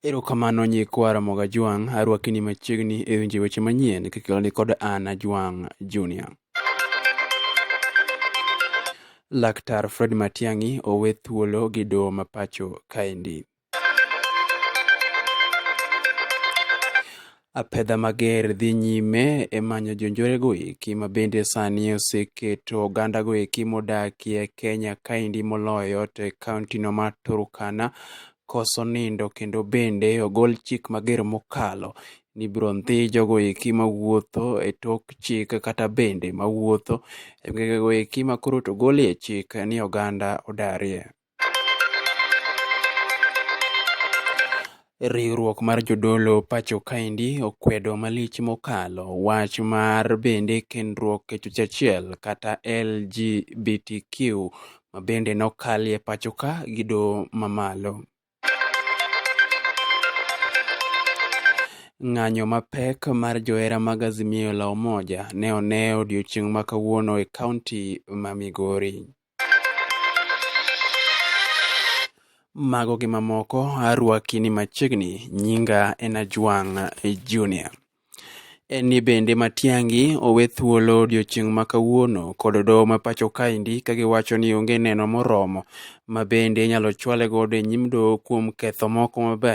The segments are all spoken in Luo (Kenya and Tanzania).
Erokamano nyikwa Ramogi Ajwang', arwaki ni machiegni e winjo weche manyien kikeloni kod an Ajwang' Junior. Laktar Fred Matiang'i owe thuolo gi doho ma pacho kaendi. Apedha mager dhi nyime e manyo jonjorego eki ma bende sani oseketo ogandago eki modakie Kenya kaendi moloyo to e kaontino mar Turkana koso nindo kendo bende ogol chik mager mokalo ni biro ndhi jogo eki mawuotho e tok chik kata bende mawuotho e gwengego eki makoro to ogolie chik ni oganda odarie. Riwruok mar jodolo pacho kaendi okwedo malich mokalo wach mar bende kendruok e chuech achiel kata LGBTQ ma bende nokalie pacho ka gi doho mamalo. Ng'anyo mapek mar johera mag Azimio la Umoja ne one odiechieng' ma kawuono e kaunti ma Migori. mago gi mamoko arwaki ni machiegni nyinga en ajwang' junior en ni bende matiangi owe thuolo odiochieng' ma kawuono kod doho ma pacho kaendi ka giwacho ni onge neno moromo ma bende inyalo chwale godo e nyim doho kuom ketho moko mabe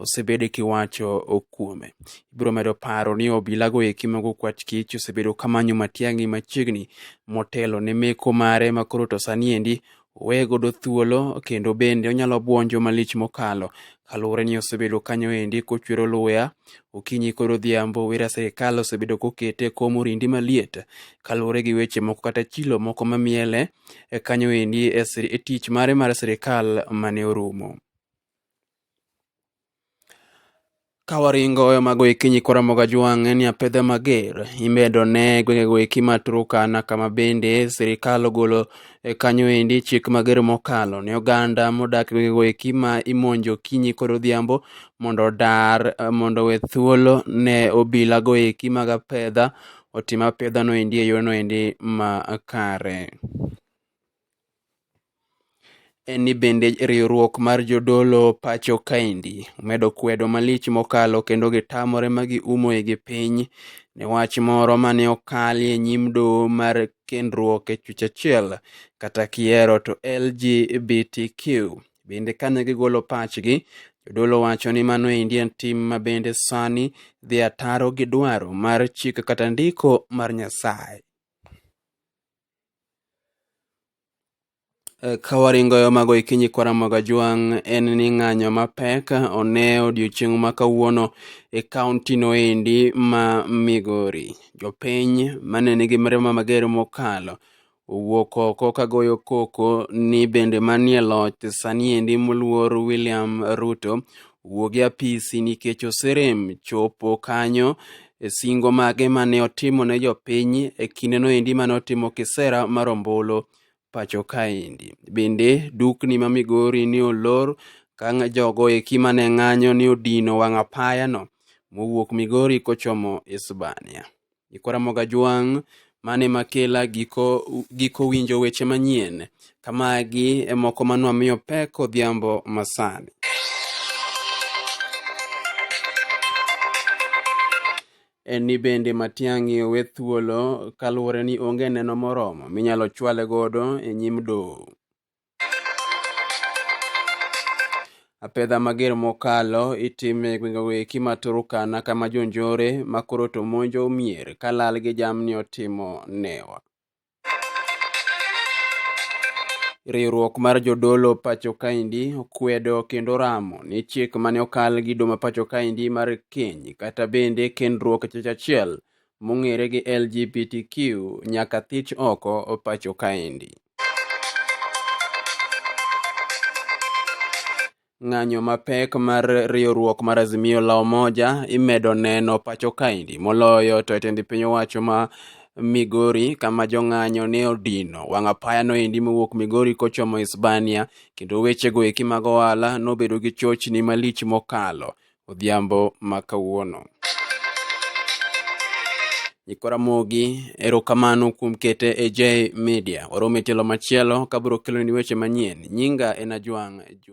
osebed kiwacho kuome ibiro medo paro ni obilago eki mago kwach kich osebedo kamanyo matiang'i machiegni motelo ne meko mare makoro to sani endi owe godo thuolo kendo bende onyalo bwonjo malich mokalo kaluwore ni osebedo kanyo endi kochwero luya okinyi kod odhiambo wera sirikal osebedo kokete kom orindi maliet kaluwore gi weche moko kata chilo moko mamiele e kanyo endi e sir- e tich mare mar sirikal mane orumo Kawaringo e mago eki nyikora moga jwang' en ya pedhe mager imedo ne gwengego eki ma Turkana kama bende sirikal ogolo e kanyo endi chik mager mokalo ne oganda modak e gwengego eki ma imonjo kinyi kod odhiambo mondo odar eh, mondo we thuolo ne obilago eki mag apedha otim apedhano endi e yono endi ma kare. en ni bende riwruok mar jodolo pacho kaendi omedo kwedo malich mokalo kendo gitamore ma giumoe gi piny ne wach moro mane okali e nyim doho mar kendruok e chuech achiel kata kiero to LGBTQ. Bende kane gigolo pachgi, jodolo wacho ni mano endi en tim ma bende sani dhi ataro gi dwaro mar chik kata ndiko mar Nyasaye. Kawaringo yo mago ikinyi kwaramoga jwang' en ni ng'anyo mapek one odiechieng' ma kawuono e kaunti no endi ma Migori. Jopiny mane nigi mirima mager mokalo owuok oko kagoyo koko ni bende manie loch sani endi moluor William Ruto wuog e apisi nikech oserem chopo kanyo e singo mage mane otimo ne jopiny e kinde noendi mane otimo kisera mar ombulu pacho kaendi. Bende dukni ma Migori ni olor ka jogo eki mane ng'anyo ni odino wang' apayano mowuok Migori kochomo Hispania. Nyikwa Ramogi Ajwang' mano ema kela giko, giko winjo weche manyien kamagi e moko manwa miyo pek odhiambo masani. en ni bende Matiang'i owe thuolo kaluwore ni onge neno moromo minyalo chwale godo e nyim doho. Apedha mager mokalo itimo e gwengego eki ma Turkana kama jonjore ma koro to monjo mier ka lal gi jamni otimo newa. Riwruok mar jodolo pacho kaendi okwedo kendo ramo ni chik mane okal gi doma pacho kaendi mar keny kata bende kendruok chich achiel mong'ere gi LGBTQ nyaka thich oko pacho kaendi. Ng'anyo mapek mar riwruok mar Azimio la Umoja imedo neno pacho kaendi moloyo to e tend piny owacho ma Migori kama jong'anyo ne odino wang' apaya noendi mowuok Migori kochomo Hispania kendo wechego eki mag ohala nobedo gi chochni malich mokalo. odhiambo ma kawuono. Nyikora Mogi, erokamano kuom kete e J Media. Warom e tielo machielo kabiro keloni weche manyien. Nyinga en Ajwang' Jun.